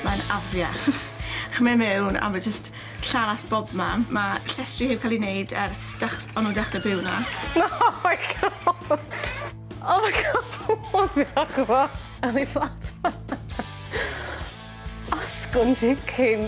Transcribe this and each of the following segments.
Mae'n afiach. Chi'n mynd mewn a ma' jyst llanast bobman. Ma' llestri heb ca'l 'u neud ers dech- o'n nw'n dechre byw 'na. Na! Oh my God! Oh my God! Afiach yw o. O'n i fel Asgwrn chicken.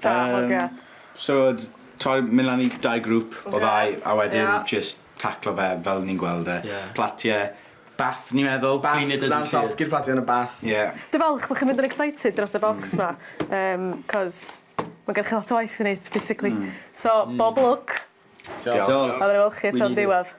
Ta hogia. Yym so o'dd t'od myn' lan i dau grŵp o ddau a wedyn jyst taclo fe fel o'n ni'n gweld e. Ie. Platie bath ni'n meddwl. Bath clean it as you see it. Lan llosgi'r platie yn y bath. Ie. Dwi falch bo' chi'n mynd yn excited dros y bocs 'ma yym 'c'os ma' gennych chi lot o waith i neud basically. Hmm. So bob lwc. Diolch. Diolch. Diolch. A wnâi wel' chi eto yn ddiwedd.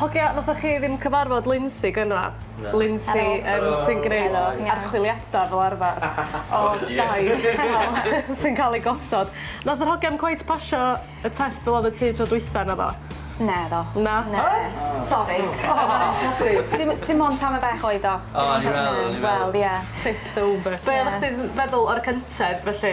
Hogia, nathoch chi ddim cyfarfod Lindsay gynna'? Na. Lindsay yym sy'n gneud archwiliada fel arfar o dai sy'n ca'l eu gosod. Nath yr hogia 'im cweit pasio y test fel odd y tŷ tro dwytha naddo? Naddo. Na? Na. Sori. Dim dim ond tamaid bach oedd o. O o'n i'n meddwl o'n i'n meddwl. Wel ie. Tipped over. Be' oddach chdi'n feddwl o'r cyntedd felly?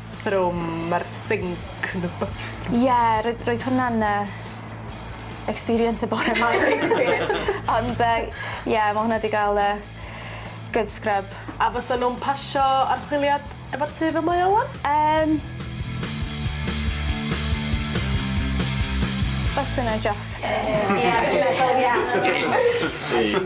bathroom ma'r sinc yn wbath. Ie roedd roedd hwnna'n yy experience y bore 'ma ond yy ie ma' hwnna 'di ga'l yy good scrub. A fysa nw'n pasio archwiliad efo'r tŷ fel mae o ŵan? Yym. Bysa 'na jyst. Ie ie ie. Ie.